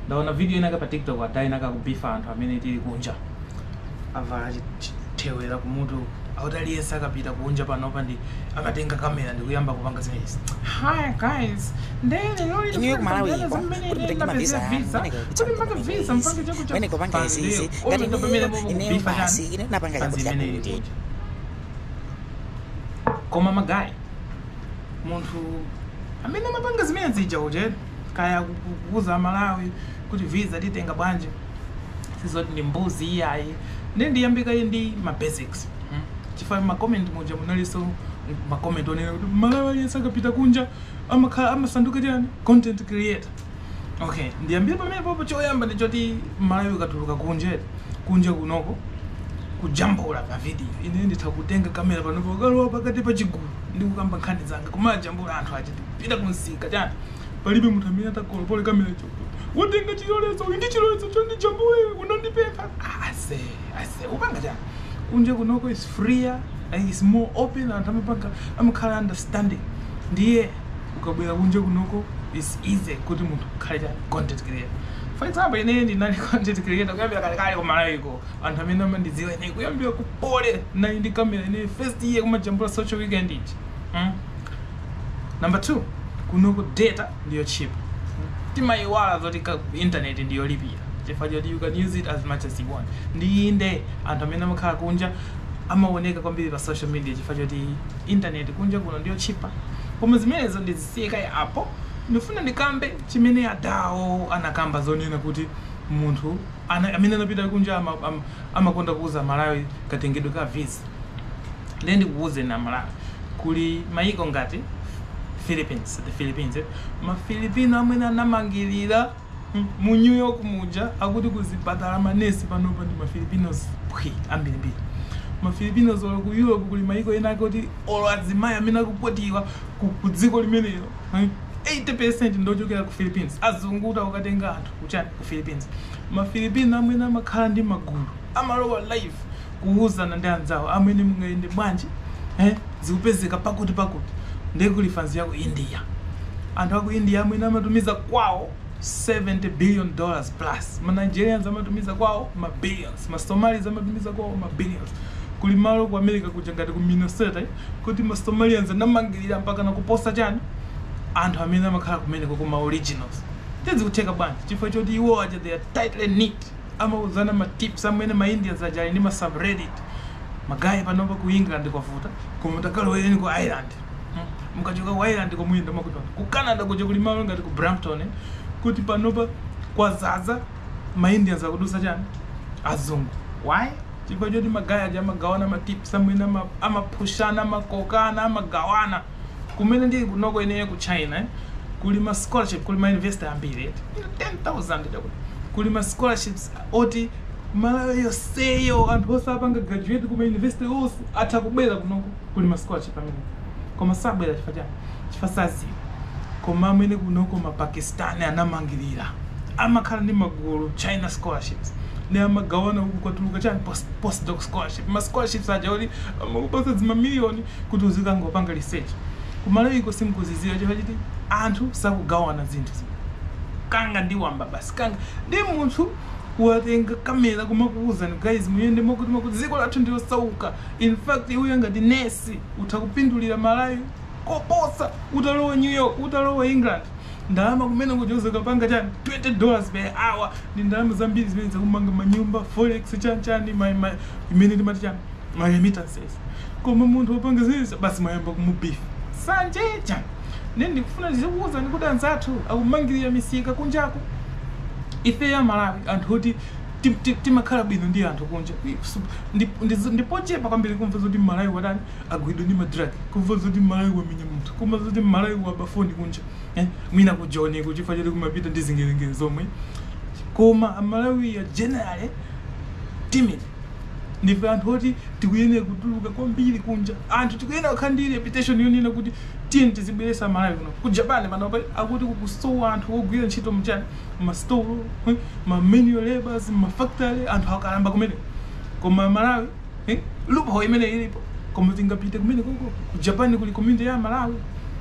ndaona video inayake pa tiktok ada inayake akubifa anthu amene tili kunja avala chi- chi- thewera kumutu akuti aliyense akapita kunja panopa ndi akatenga kamera ndikuyamba kupanga zimenezi hi guys Inuyo kumalawiko kuti mutenge mavisa amwene kuti mpange visa mpange chakuti amwene kupanga izi izi ngati inuyo ineyo basi ine napanga chakuti chakuti koma magayi munthu amene amapanga zimene zija uje kaya ku- ku- kuuza amalawi kuti visa titenga bwanji sizoti ndi mbuzi iyayi ndi- ndiyambe kaye ndi ma basics mm. chifukwa makomenti muja munalinso makomenti onena kuti mmalawi aliyense akapita kunja amakhala amasanduka chani content creator okay ndiyambire pamenepopo choyamba ndichoti mmalawi ukatuluka kunja kunja kunoko kujambula pa video ine nditha kutenga kamera panopa kukalowa pakati pa chigulu ndikukamba nkhani zanga kumajambula anthu aja ndikupita kumsika chani palibe munthu amene atakalowerere kamera ija kuti watenga chilolezo uyu ndi chilolezo choti ndijambule unandipempha ase ase upanga chani kunja kunoko is freer like is more open anthu amapanga amakhala understanding ndiye ukabwera kunja kunoko is easy kuti munthu ukhale chani content creator for example ine ndinali content creator kuyambira kalekale kumalawiko Anthu amene amandidziwa ine kuyambira ku Poly ndinali ndi camera ine first year kumajambula social weekend ija. Mm. Number 2, kunoko data ndi yotchipa. Mm. Timayiwala zoti ka internet ndi yolipira chifukwa choti you can use it as much as you want. Ndiye inde anthu amene amakhala kunja amaoneka kwambiri pa social media chifukwa choti internet kunja kuno ndi yotchipa. Koma zimenezo ndizisiye kaye apo. Ndifuna ndikambe chimene Adawo anakamba zonena kuti munthu Ana amene anapita kunja ama, am, amakonda kuuza a Malawi katengedwe ka visa. Ndiye ndikukuuzeni a Malawi, kuli maiko ngati Philippines, the Philippines, eh? ma Filipino amwene anamangirira mm, mu New York muja akuti kuzipatala manesi panopa ndi ma Filipinos phwi ambirimbiri. Ma Filipinos olo ku Europe kuli maiko ena ake oti olo azimayi amene akukwatiwa ku, ku dziko limenelo eh, 80% ndi ochokera ku Philippines. Azungu akuti akutenga anthu kuchani? ku Philippines. Ma Filipino amwene amakhala ndi magulu amalowa live kuuzana ndi anzawo amwene mungayende bwanji eh, zikupezeka pakuti pakuti ndiye kuli fanzi ya ku India. Anthu a ku India amwene amatumiza kwawo 70 billion dollars plus, ma Nigerians amatumiza kwawo ma billions, ma Somalis amatumiza kwawo ma billions. Kuli malo ku America kuja ngati ku Minnesota eh, kuti ma Somalians anamangirira mpakana kuposa chani anthu amene amakhala kumeneko ma originals. Nde zikutheka bwanji? Chifukwa choti iwo aja they are tightly knit, amauzana ma tips amwene ma Indians aja ali ndi ma subreddit. Ma guy panopa ku England kwavuta, koma mutakalowereni ku Ireland hmm, mukachoka ku Ireland ko muyenda mwakuti. Ku Canada kuja kuli malo ngati ku Brampton kuti panopa kwazaza ma Indians akudutsa chani? Azungu. Why? Chifukwa choti ma guy aja amagawana ma tips amwene ama, amapushana, amakokana, amagawana. kumene ndili kunoko ineyo ku china kuli ma scholarship kuli ma university ambiri eti 10000 chakuti kuli ma scholarships oti malawi yonseyo anthu onse apanga graduate kuma university onse atha kubwera kunoko kuli ma scholarship amwene koma sabwera chifukwa chani chifukwa saziwa koma amwene kunoko ma pakistani anamangirira amakhala ndi magulu china scholarships ndi amagawana uku kwatuluka chani post, postdoc scholarship ma scholarships aja oti amakupasa zimamiliyoni kuti uzikangopanga research kumalawiko simukuziziwa chifukwa choti anthu sakugawana zinthu zija kanga ndi wamba basi kanga ndi munthu watenga kamera kumakuwuzani guys muyende mwakuti mwakuti dziko lathu ndi losauka in fact iweyo ngati nesi utha kupindulira malawi koposa utalowa new york utalowa england ndalama kumene kuja uzikapanga chani 20 dollars per hour ndi ndalama zambiri zimene uzakamanga manyumba forex chani chani ma- ma- imene timati chani ma remittances koma munthu wapanga izizi basi mwayamba kumu beef sanje chan nde ndikufuna ndizikuuzani kuti anzathu akumangirira misika kunjaku ifeyo amalawi anthu oti tim- ti- timakhala bwino ndi anthu kunja Su- ndi- ndi- ndipochepa kwambiri kumva zoti mmalawi watani wagwidwa ndi madrag kumva zoti mmalawi wamenya munthu kumva zoti mmalawi waba foni kunja eh? mwina ku joni ko chifukwa choti kumapita ndi zingelengele zomwe koma amalawi are generally timid Ndife anthu oti tikuyenera kutuluka kwambiri kunja. Anthu tikuyenera kukhala ndi reputation yonena kuti tiyeni tizibweretsa aMalawi kuno. Ku Japan panopa akuti kukusowa anthu ogwira ntchito mchani, mmasitolo, eh, ma manual labours, mmafactory, anthu akalamba kumeneko. Koma aMalawi, eh, loophole imene ilipo. Koma tingapite kumenekoko. Ku Japan kuli community ya aMalawi.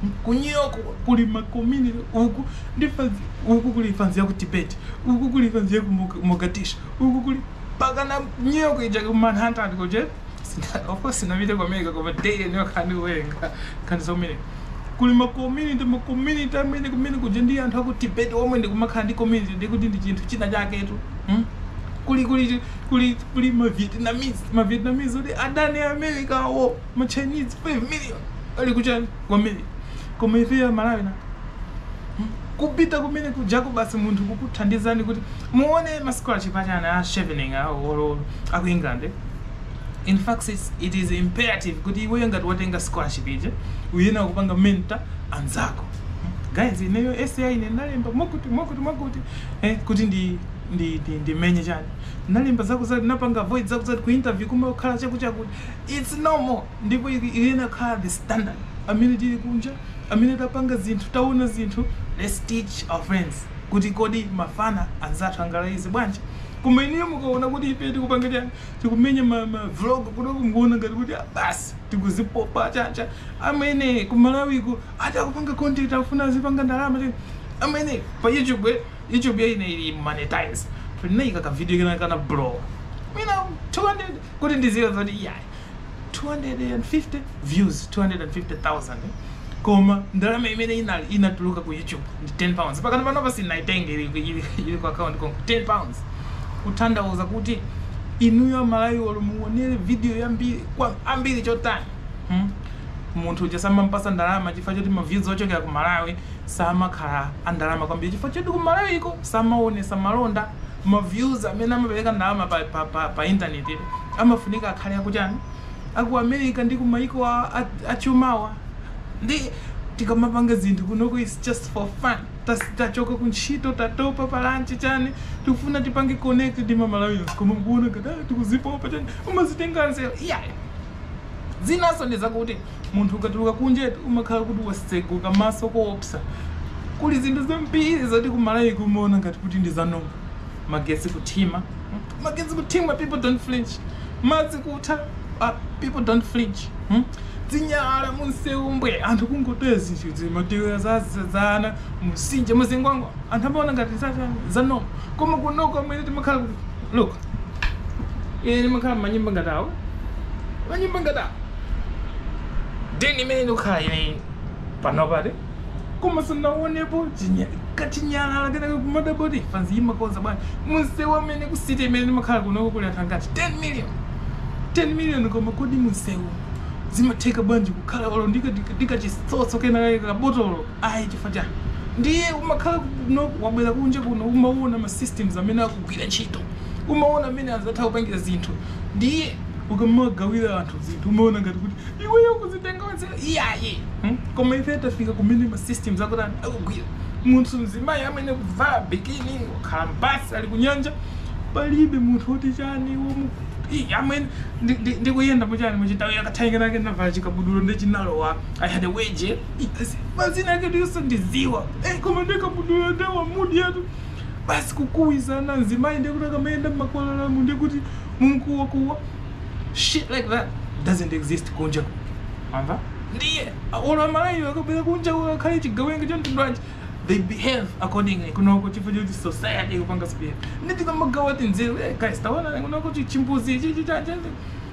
Hmm? Ku New York kuli ma community uku ndi fanzi, uku kuli fanzi ya ku Tibet, uku kuli fanzi ya ku Mog- Mogadishu. uku kuli pakana New York ija ku Manhattan kuja Sina- of course sinapite ku America koma day and night ndikuwerenga nkhani zimenezi kuli ma community ma community amwene kumene kuja ndi anthu aku Tibet omwe ndikumakhala ndi community ndi kuti ndi chinthu china chaketu hmm? kuli kuli kuli kuli ma Vietnamese ma Vietnamese oti adani a America awo ma Chinese 5 million ali kuchani ku America koma ifeyo aMalawi na Kupita kumene kujako basi munthu kukuthandizani kuti muone ma scholarship achina Chevening awo or aku England. In fact it's, it is imperative kuti iweyo ngati watenga scholarship ija uyenera kupanga mentor anzako. Guys, ineyo SI ine ndinalemba mwakuti mwakuti mwakuti eh, kuti ndi ndi ndi ndimenye chani ndinalemba zako zoti ndipanga avoid zako zati ku interview kumakhala chakuchakuti it's normal ndipo ili- iyena khala the standard amene tili kunja amene tapanga zinthu taona zinthu let's teach our friends kuti kodi mafana anzathu angalayize bwanji koma inuyo mukaona kuti ife tikupanga chani tikumenya ma, ma vlog kunoku mukuona ngati kuti ah, basi tikuzipopa chani chani amene ku malawiku ati akupanga content akufuna azipanga ndalama chani amene pa youtube eh, youtube ya ine ili monetize tinaika ka video kena kana blow mwina 200 kuti mudziwe zoti iyayi 250 views 250,000 koma ndalama imene inali inatuluka ku youtube ndi 10 pounds mpakana panopa sindinaitenge ili, ili, ili ku account konko 10 pounds kutanthauza kuti inuyo amalawi olo muonere video ambiri kwa ambiri chotani hmm? munthu uja samampasa ndalama chifukwa choti maviews ochokera ku malawi samakhala andalama kwambiri chifukwa choti ku malawi iko samaonesa malonda ma views amene amapereka ndalama pa pa pa pa intaneti tu amafunika akhale aku chani aku America ndi ku maiko a a achumawa ndiye tikamapanga zinthu kunoko is just for fun tas tachoka ku ntchito tatopa pa lunch chani tikufuna tipange connect ndi ma Malawians koma mumaona ngati ah tikuzipopa chani mumazitenga nzeru iyayi zinanso ndi zakuti Munthu ukatuluka kunjatu umakhala kuti watsekuka maso koopsa. Kuli zinthu zambiri zoti ku Malawi ku umaona ngati kuti ndi za normal. Magetsi kuthima, magetsi kuthima people don't flinch. Madzi kutha ah, people don't flinch. Hmm? Zinyalala munsewu mbwe anthu kungotaya zinthu zi matewera za za- za ana mu Nsinja mu Zingwangwa anthu amaona ngati za za- za normal. Koma kunoko amene timakhala kuti look, ine ndimakhala manyumba ngati awo manyumba ngati awo deni imene ndikukhala ine panopa koma sindinaonepo chinya- kachinyalala kenake kumadabwa kuti mafanzi amakonza bwanji munsewu amene ku city imene ndimakhala kunoko kuli anthu angati 10 million 10 million koma kodi munsewu zimatheka bwanji kukhala olo ndi kachitsotso kena kake kabotolo ayi chifukwa chani ndiye umakhala kuno wabwera kunja kuno umaona ma systems amene akugwira ntchito umaona amene anzathu akupangira zinthu ndiye ukamagawira anthu zinthu umaona ngati kuti iweyo ukuzitenga onse iyaye hmm? koma ife tafika kumene ma systems akuti anthu akugwira munthu mzimayi amene kuvala bikini wakhala m'basi ali kunyanja palibe munthu woti chani womu Ih, amene ndi- ndi- ndikuyenda muchani muchitawi akathainga nake navala chikabudulo ndi chinalowa i had a wedgie mazina ake sindiziwa Eh, koma ndi kabudulo ndawa mudi yatu basi kukuwizana mzimayi ndekuti akamayenda mmakwalalamu ndekuti mumkuwakuwa shit like that doesn't exist kunja wamva ndiye olo amalawiwo akabwera kunja olo akhale chigawenga cha mtundu wanji they behave accordingly kunoko chifukwa choti society ikupanga sipera nde tikamagawa tinzeru eh guys taona kunoko chi- chimbuzi chichi chanje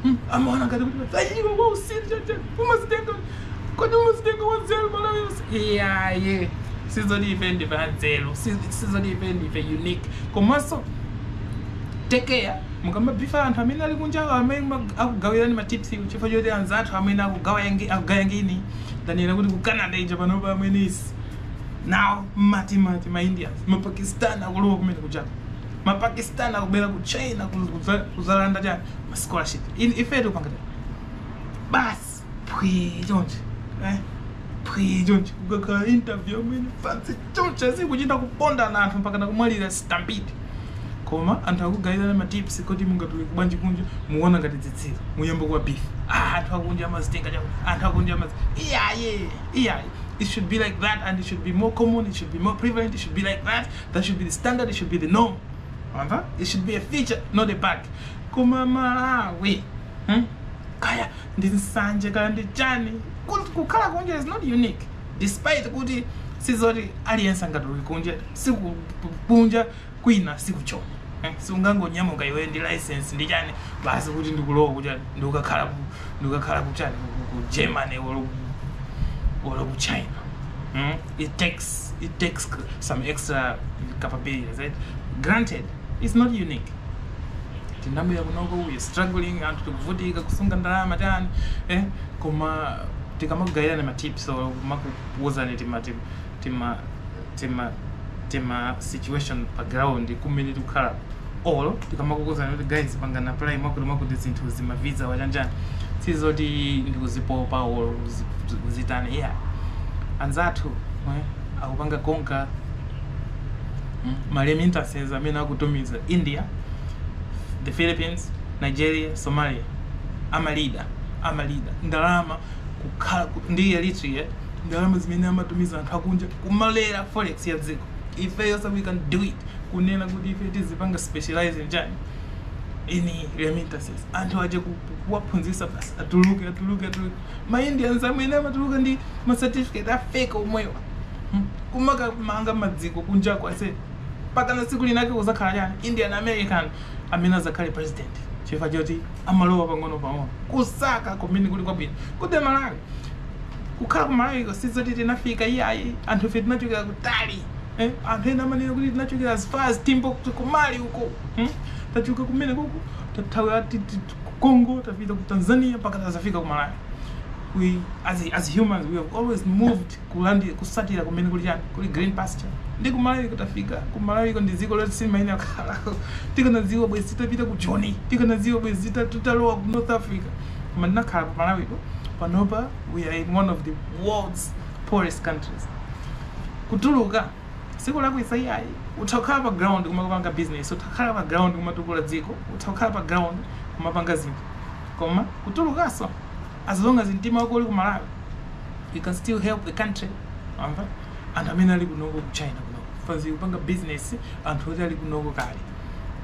Hmm, amaona ngati kuti vayiwa wa usiru chachani umazitenga kodi umazitenga wanzeru malawi yonse iyaye sizoti ife ndife anzeru si- sizoti ife ndife unique komanso take care mukamabhifa anthu amene ali kunjawo amene ma- akugawirani matips chifukwa choti anzathu amene akugaya ngi- akugaya ngini tanena kuti ku canada ija panopa amwenye si nawo mmatimati ma indians mapakistan akulowa kumene kujako ma pakistan akubwera ku china kuzalanda chani ma scholarship ife tikupanga chani basi phwi chonje eh phwi chonje kukakhala interview amene pansi chonje zikuchita kupondana anthu mpaka nakumwalira stampede koma anthu akugayirana ma tips kuti mungatuluke bwanji kunja muona ngati zitsiru muyamba kuwa beef ah, anthu akunja amazitenga chako anthu akunja amaz iyaye iyaye it should be like that and it should be more common it should be more prevalent it should be like that that should be the standard it should be the norm wamva it should be a feature not a bug koma malawi hmm? kaya ndi nsanje kaya ndi chani Ku- kukhala kunja is not unique despite kuti sizoti aliyense angatuluke kunja siku kunja kwina sikuchona Eh, siungangonyamuka iwe ndi license ndi chani basi kuti ndikulowa kuti ndikukakhala ku- ndikukakhala kuchani ku- ku- ku germany or ku- or ku china Hmm? it takes it takes some extra capabilities right granted it's not unique tinabwera kunoko we struggling anthu tikuvutika kusunga ndalama tani eh koma tikamakugayirani ma tips or makuuzani tima tima tima tima tima situation pa ground kumene tikukhala or tikamakukuuzani kuti guys pangani apply mwakuti mwakuti zinthu zima visa wa chani chani sizoti ndikuzipopa or kuzi- kuzitani yeah anzathu eh, akupanga konka mm, ma remittances amene akutumiza india the philippines nigeria somalia amalida amalida ndalama kukhala ku- ndi eritrea ndalama zimene amatumiza anthu akunja kumalera forex ya dziko ifeyo so we can do it kunena kuti ife tizipanga specialize chani in remittances anthu aja ku- ku- kuwaphunzitsa basi atuluke atuluke atuluke ma indians amene amatuluka ndi ma certificate afeki omwewo Hmm. kumakamanga maziko kunjako ase mpakana tsiku linake kuzakhala chani indian american amene azakhale president chifukwa choti amalowa pang'ono pang'ono kusaka kumene kuli kwabwino kuti malawi kukhala ku malawi sizoti tinafika iyayi anthu ife tinachokera kutali eh anthu ena amanena kuti tinachokera as far as timbuktu ku Mali uko hmm? tachoka kumene kuko tathawira ti- ti- ti- ku congo tafika ku tanzania mpaka tazafika ku malawi we as, a- as humans we have always moved kulandi kusatira kumene kuli chani kuli green pasture ndi kumalawi kutafika kumalawiko ndi dziko loti silimaina khala tikanadziwa bwezi titapita ku joni tikanadziwa bwezi tita- titalowa ku north africa koma tinakhala pa malawiko panopa we are in one of the world's poorest countries kutuluka sikulakwisa iyayi utha kukhala pa ground kumakapanga business utha kukhala pa ground kumatukula dziko utha kukhala pa ground kumapanga zinthu koma kutulukaso as long as mtima wako uli ku malawi you can still help the country mwamva anthu amene ali kunoko ku china kunoko fans kupanga business anthu oti ali kunoko kale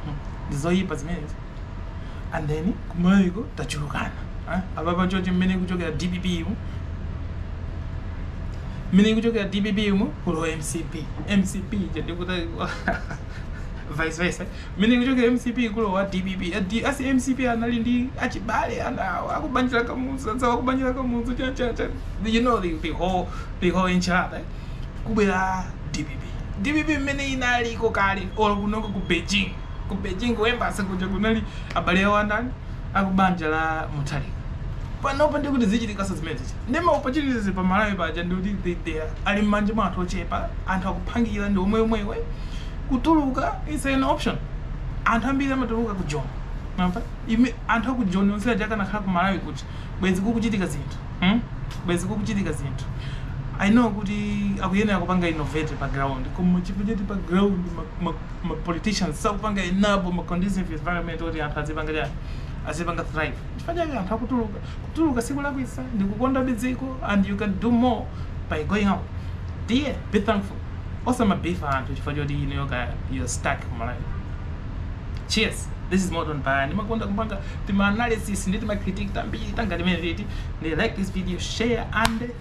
Hmm. ndizoyipa zimenezi and then ku malawiko tachulukana eh? apapa chochi mmene ikuchokera dpp yu mmene ikuchokera dpp yu kulowa mcp mcp ija ndikuti vice versa mmene ikuchokera mcp kulowa dpp Adi- asi mcp anali ndi achibale awo akubanja la kamuzu anzawo akubanja la kamuzu cha cha cha you know the, the whole the whole enchilada eh? kubwera dpp dpp mmene inaliko kale or kunoko ku beijing ku Beijing ku embassy kuja kunali abale awo andani akubanja la Mutharika panopa ndikuti zichitikaso zimene zija nde ma opportunities pa Malawi paja ndikuti they they are ali mmanja mwa anthu ochepa anthu akupangira ndi omwe omwewo kutuluka is an option anthu ambiri amatuluka ku Joni mwamva ime anthu aku Joni onse aja akanakhala ku Malawi kuja bwezi kukuchitika zinthu hmm? bwezi kukuchitika zinthu I know kuti akuyenera kupanga innovate pa ground koma chifukwa choti pa ground ma, ma, ma politicians sakupanga enable ma conducive environment oti anthu azipanga chani azipanga thrive chifukwa chake anthu akutuluka kutuluka sikulakwisa ndi kukondabe dziko and you can do more by going out dear be thankful osamabifa anthu chifukwa choti inuyo kaya you're stuck malawi cheers this is modern baya ndimakonda kupanga tima analysis ndi tima critique tambiri tangati timeneti ndiye like this video share and